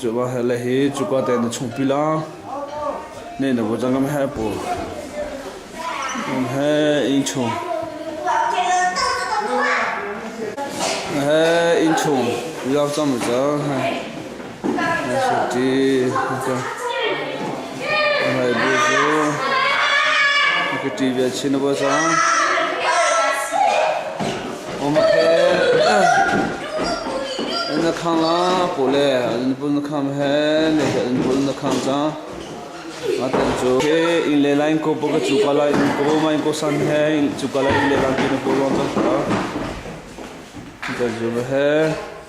Cuvahle hi cuka tein na chung pil ah ne na vaw cang ngam he pu. Ngam he ing chung. Na he ing chung. Yak cam ca. Na si ti. Okay. Ngaihbu cu a ka ṭi ve chin a bawi cang. Um khe na khang la pu le an pun na khang he ne he an pun na khang ca ngaten cu ke in le line ko boka chu kala in ko mai ko san he in chu kala in le line pin ko rom ta ta da ju he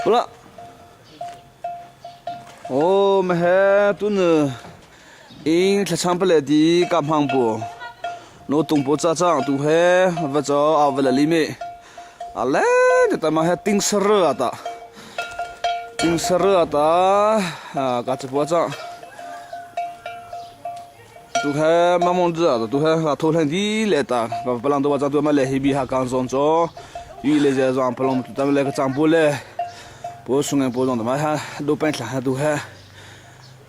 Pula. Oh, mahe tun Ing thlachang pale ti ka hmang pu. No tung pu ca cang tu he va cho au va la li mi. A leng ta ma he ting sar ata. Ting sar ata ka che pu cang. Tu he mamon tu ta tu he ka tho hleng di le ta ka palang to ca tu ma le hi bi ha kan zon cho. Yu le je zong palong tu ta le ka chang pu le. Pu sungen pu zong ta ma ha do pen thla ha tu he.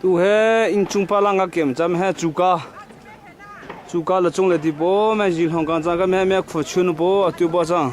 tu he inchung palang ka kem cham he chuka chuka la chung le ti po me ji long kan chang ka me me khu chun po atu bo chang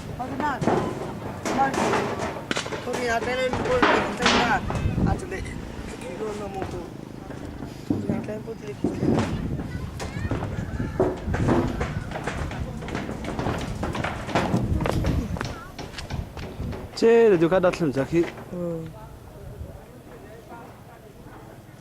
Cee, da du ka dat thlam cak hi.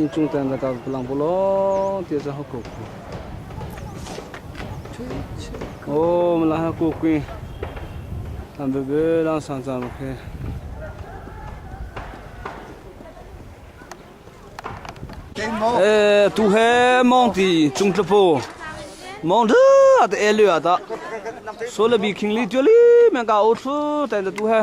Inn cung ten rak lang bu law ti cun ha kuk ku. Oh, mala ha kuk ku. Tam bebe lang sang cang lo khe. Eh, tu he mong ti chung tlapo. Mong tha ta e lu ya ta. So la bi khing li tu li men ka o thru tan ta tu he.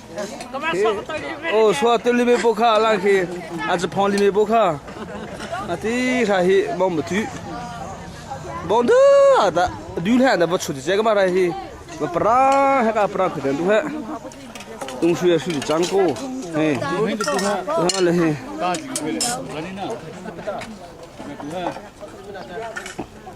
hi aw sua tu lime bo kha la khi a japon lime bo kha a ti kha hi bom bu tu bong da da du le da bo chu je ga ma rai hi ma para he ka para khu den du he tung shu ya shu di chang ko he ha le he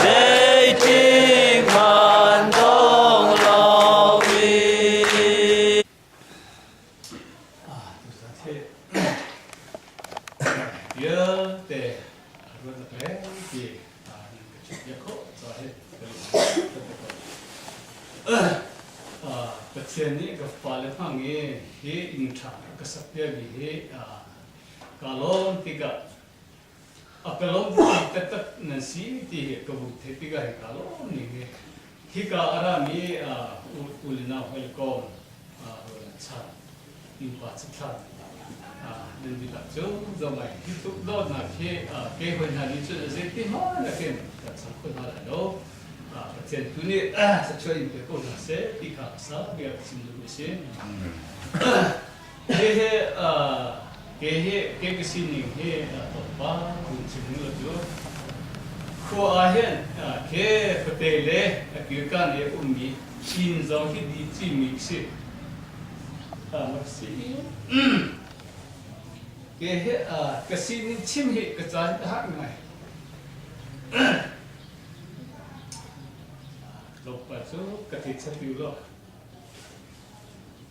Zeitik hmanh dong lo i vialte ruat reng ti ka chim bia khawh ca hi ka lung ka te ko. Pathian nih ka fale hmang i hi inn ṭha ka sak piak hi kaa lawm tikah a pelo mi taktak nan si ti hi ka vun theih tikah hika lawm ning hi hika a rami u le nau hoi kong rawn a chan nupa cithlan nan dihlak cu domai hi tluk dawtnak hi ke hoi hna nih cun zeiti hon nakin kan cham kho hna lai lo Pathian tu nih sachuah in pe ko hna se ti kha sa bia chim lu si Hihi kei ka sining hi thawngpang kan chimmi cu khua ahhin ke fate le kirkan i ummi chin zong hi di cimi a si. Ke hi ka sining chim hi ka caan a har ngai. Tlawmpa cu ka ti chati lo.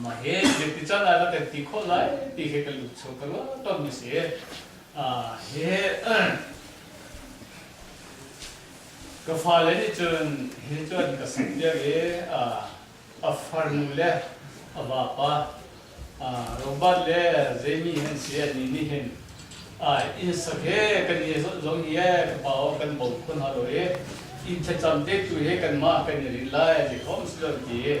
Mah hi mipi can ah na kan ti khawh lai ti hi kan lungcho ka ruah ton a si. hi ka fale nih cun hi cun ka sam viar i a farnu le a vapa Robert le Jamie an si a ni nih hin inn sak he kan i zong hi ka pa aw kan bawm khun halo i inn thlacam te tu hi kanmah kan i rin lai ti khom si lo ti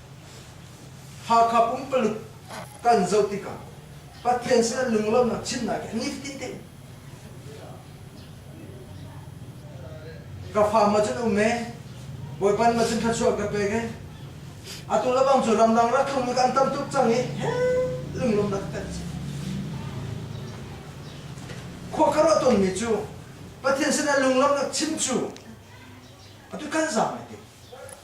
Hakha pumpaluk kan zoh tikah Pathian sin an lunglawmhnak chimnak hi nifatin te ka fa ma cun um e bawipan ma cun thluachuah ka pek e atu le bang cu ramdang rathlung mi kan tam tuk cang i lunglawmnak kan si khua ka ruah tonmi cu Pathian sin a lunglawmhnak chim cu atu kan zaam e ti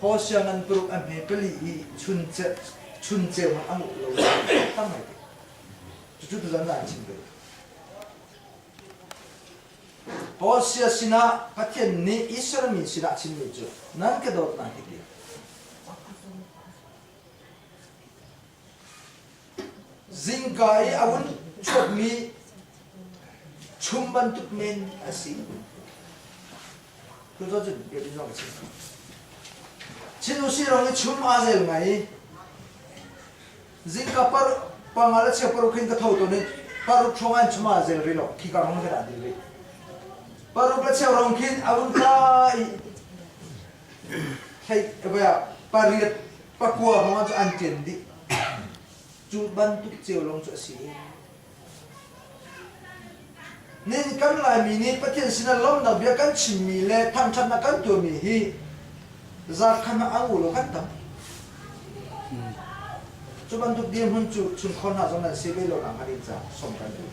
Ho sianginn paruk a hme pali i chun ceu hmanh a nguh lo thar ngai te. Cucu tu zan ah an chim ve. Hosea sinah Pathian nih Israel mi sinah chimmi cu nan ka dawt hna hi ti. Zingka i a vun chuakmi chum bantuk men a si. Cu tu cun biakinn zong a si. Chin Usi ram i chum aa zel ngai i zingka par pangal a chia paruk hin ka tho tawn i paruk hrawng an chum aa zel rih lo khi ka rong ka dah dil rih. Paruk a chia rong khin a vun tla i pariat pakua hrawng cu an ṭen dih. Cu bantuk cio lawng cu a si. Nihin kan Laimi nih Pathian sinah lawmhnak bia kan chimmi le thangṭhatnak kan tuahmi hi zarkhan ah a ngu lo kan tam. Cu bantuk dirhmun cu chunkhor hna zong nan si ve lonak hnga ding caah som kan duh.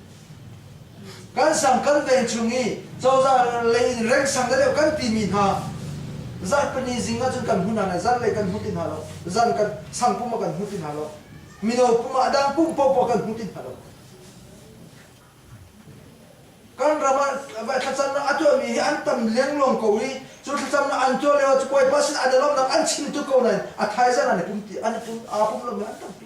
Kan sam kan veng chung i cozah lei rengsang deuh kan timi hna zan pahnih zing ahcun kan hmu hna lai zan lei kan hmu ti hna lo zan kan sang pum ah kan hmu ti hna lo mino pum ah dang pum popoah kan hmu ti hna lo kan ram ah thlacamnak a tuahmi hi an tam liangluang ko i cu thlacamnak an tuah lio ah cu puai pasin an i lawmnak an chim tuk ko nain a thaizan an i pum ti an i pum aa pum lomi an tampi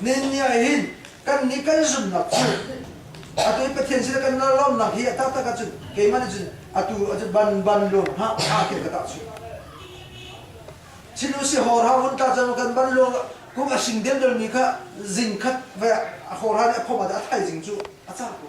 Nenni ah hin kan nih kan zumhnak cu atu Pathian sin kan lawmnak hi a taktak ahcun keimah nih cun atu ahcun ban ban luang hna hna khi ka tah cu chinu si hor ha hun ta cang kan ban luang kung a sing den dol mi kha zing khat ve a hor ha nih a phom a thaizing cu a ca ko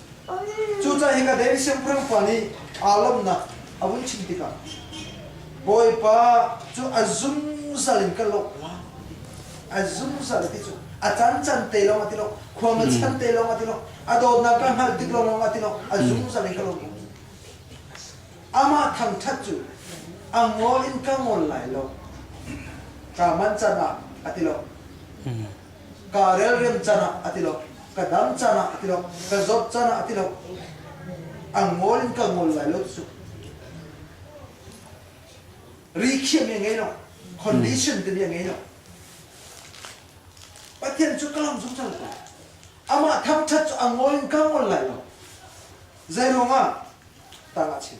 Cucaah hika David siangpahrang pa nih aa lawmhnak a vun chim tikah Bawipa cu a zungzal in ka lawmh lai a zungzal ti cu a cancan te lawng a ti lo khuang a chan te lawng a ti lo a dawtnak ka hngalh tik lawng a ti lo a zungzal in ka lawmh amah thangṭhat cu a ngol in ka ngol lai lo kaa man can ah a ti lo ka relrem can ah a ti lo ka dam can ah a ti lo ka zop can ah a ti lo a ngol in ka ngol lai lo su rikhiam ya ngei lo condition te ya ngei lo pathian cu kalam zungzal ko amah thangthat cu a ngol in ka ngol lai lo zeiruang ah tangah chim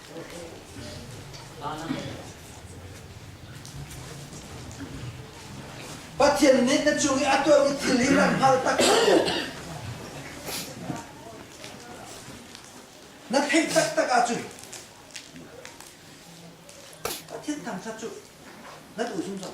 Pathian nih na cung i a tuahmi thil hi na hngal taktak. Na theih taktak ahcun Pathian thangthat cu na duh zungzal.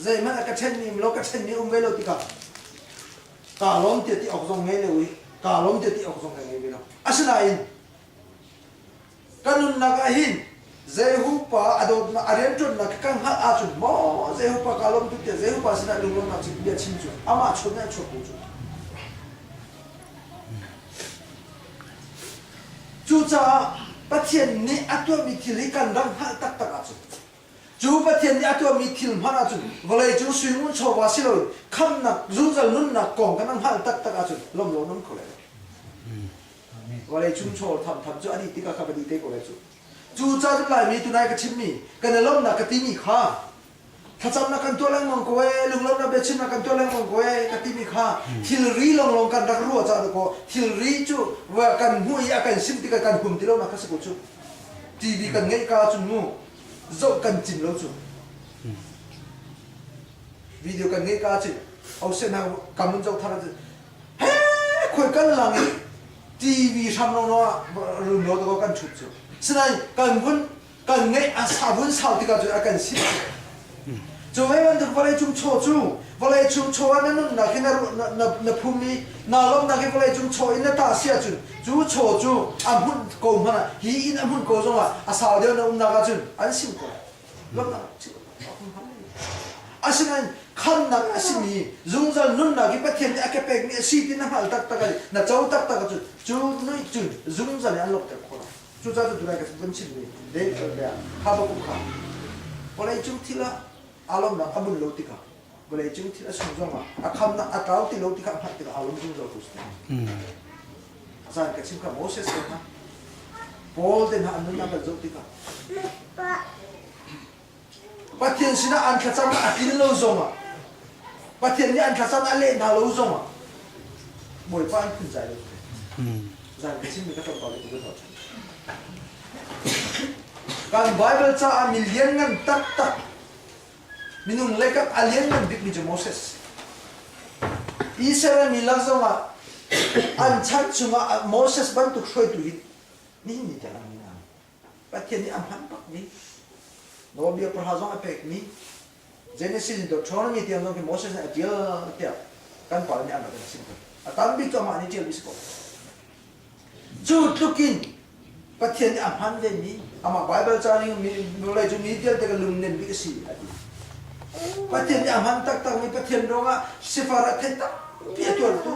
zeihmanh a ka ṭhen nih milo ka ṭhen nih um ve lo tikah kaa lawm tiah ti awk zong ngei le ui kaa lawm tiah ti awk zong ka ngei ve lo asinain ka nunnak ah hin zeihupa a dawtnak a rianṭuannak ka hngalh ahcun maw zeihupa kaa lawm tuk tiah zeihupa sinah lunglawmnak cu bia chim cu amah chuak nih a chuak ko cu cucaah Pathian nih a tuahmi thil hi kan rak hngalh taktak ahcun Cu Pathian nih a tuahmi thil hmanh ahcun vawlei cung suingun chawva si loin khamhnak, zungzal nunnak kong kan hngalh taktak ahcun lawmlo an um kho lai lo. Vawlei chung chawl thamtham cu a dih tikah khan a dih te ko lai cu. Cucaah cun Laimi tunai ka chimmi, kan i lawmhnak ka timi kha thlacamnak kan tuah lengmang ko ee, lunglawmhnak biachimnak kan tuah lengmang ko ee ka timi kha thilri lawnglawng kan rak ruah caah dawkaw thilri cu kan hmuh i a kan simh tikah kan hum ti lonak kha si ko cu. TV kan ngeih ka cu mu. zoh kan cim lo cu video kan ngeih ka cu au se na kam in zo thar cu he khoi kan lang i tv hrang lo no run lo to kan chut cu sinai kan vun kan ngeih a sa vun sau tika cu a kan si Cu hei bantuk vawleicung chaw cu vawleicung chaw ah na nunnak hi na, na, na, na phum i naa lawmhnak hi vawleicung chaw in na tah si ahcun cu chaw cu a hmunh ko hmanh ah hi in a hmunh ko zongah a sau deuh na umnak ahcun an sim ko lawmhnak chim asinain khamnak a simi zungzal nunnak hi Pathian nih a ke pekmi a si ti na hngalh taktak ah na co taktak ahcun cu nuih cun zungzal in an lawmhter khawh lai Cucaah atu lai ka vun chimmi lehkhawh le habakkuk ah vawleicung thil ah aa lawmhnak a bunh lo tikah vawleicung thil a sung zongah a khamnak a tlau ti lo tikah a hngalh tikah aa lawm zungzaltu si te. A caan ka chim kha Moses he hna Paul te hna an nunnak kan zoh tikah Pathian sinah an thlacam a tlin lo zongah Pathian nih an thlacam a leh hna lo zongah Bawipa an phunzai lo zan ka chim mi ka tlawmpal ka tuka thawh kan Bible caah mi lianngan taktak minung leikap a lianngan bikmi cu Moses Israel mi lak zongah an chan chungah Moses bantuk hruaitu in nihin ni tengah an Pathian nih a hman bakmi Nawlbia pahra zong a pekmi Genesis in Deuteronomy tiang zong khi Moses nih a ṭial tiah kan pale nih an rak in a chim ko. A tam bik amah nih ṭialmi si ko. Cu tluk in Pathian nih a hman vemi amah Baibal ca ning hnulei cu mi vialte ka lungnem bik a si a ti. Pathian nih a hman taktakmi Pathian ruangah sifar ah theih tampi a tuartu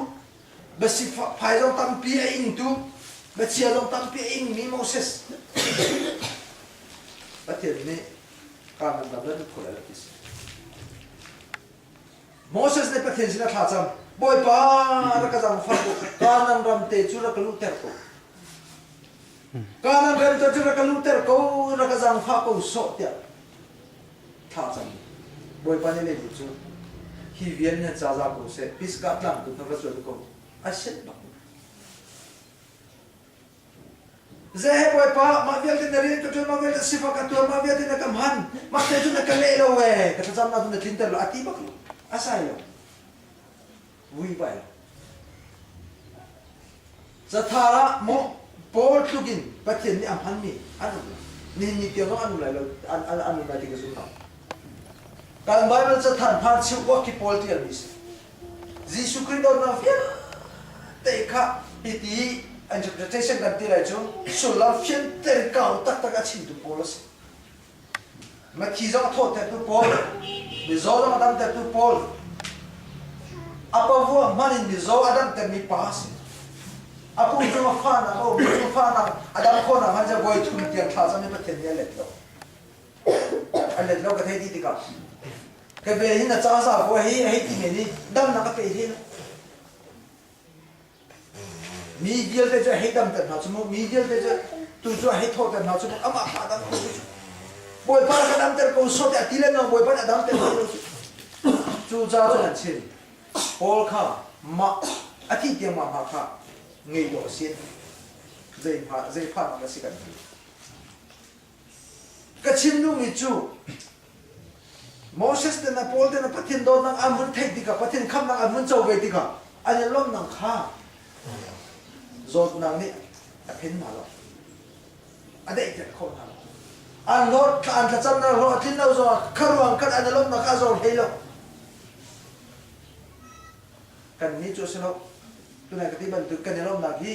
Biasifai zong tampi a ingtu, bachia zong tampi a ingmi Moses. Pathian nih kanan lam nan kho lai ti si. Moses nih Pathian sin a thla cang. Bawipa rak ka zangfah ko, kanan ram te cu rak ka luhter ko. Kanan rem te cu rak ka luhter ko, rak ka zangfah ko sawh tiah thah cang. Bawipa nih a bu cu, Hi vial nih caza ko seh, Pisgah tlang tu kha va cuanh ko, a sianh bak. Zei Bawipa, mah vialte na rian ka ṭuan, mah vialte sifak ka tuar, mah vialte na ka hman, mah te cun na ka leh lo ee, ka thlacamnak cu na tlinter lo, a ti bak lo, a sai lo. vuibai. Cathar ah maw Paul tluk in Pathian nih a hmanmi an um lai. Nihin ni tiang zong an um lai lo, an, an, an um lai ti ka zum lo. Kan Bible cathar hmaan cheu kuak khi Paul tialmi si. Jesuh Christ dawtnak vialte kha piti interpretation kan ti lai cu sullam fianter kau taktak a chimtu Paul a si. Mathi zong thawhtertu pawl, mizaw zong a damtertu pawl, a pavua hman in mizaw a damtermi pa a si. A pum cung a fa nak, a um cung fa nak, a dam kho nak hmanjah voi thum tiang thla zong in Pathian nih a let lo. A let lo ka thei ti tikah. Ka be in a caza vuah hi a hei ti men i damnak a pe hi. Mi vialte cu a hei damter hna cu mu, mi vialte cu tu cu a hei thawhter hna cu mu, amah kha a dam ko cu. Bawipa kha damter ko sawt i a ti le nang Bawipa nih a damter hna ko cu. Cucaah an chim, Paul kha mah a thih tiangmang hna kha ngei dawh a si. Zei hma, zei phanah dah a si kan ti. Ka chimnumi cu Moses ten a Paul ten a Pathian dawtnak an hun theih tikah Pathian khamhnak an hun co ve tikah an i lawmhnak kha zawtnak nih a phen hna lo a daihter khawh hna lo an hlawt an thlacamnak hlawt a tlin lo zong kha ruang khan an i lawmhnak kha a zor hlei lo kan nih cu a si lo tunai ka ti bantuk kan i lawmhnak hi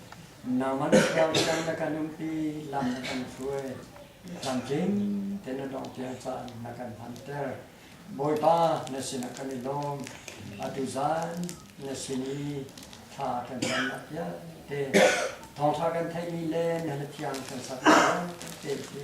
Nangman thluang cang na kan umpi, lam na kan hruai. Tlamtling te na dong tiang caan na kan hmanter. Bawipa na sinah kan i lawm. Atu zan na sin i thla kan camnak vialte, thawngṭha kan theihmi le na thiang kan sak vialte khi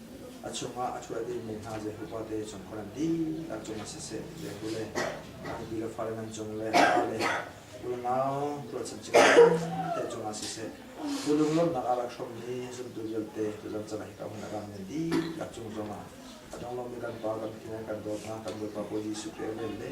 a chungah a ṭhual dihmi hna Jehu fate cung khan dihlak cungah siseh, Jehu le a nupi le fale nan cung le fale unau tuah chinchin te cungah siseh, cu lunglawmhnak ah rak hrawmmi zumtu vialte cu zamcala hika hmun ah rammi dihlak cung zongah a donglawmmi kan Pa kan File kan dawt hna kan Bawipa Bawi Jesuh Krih a vel le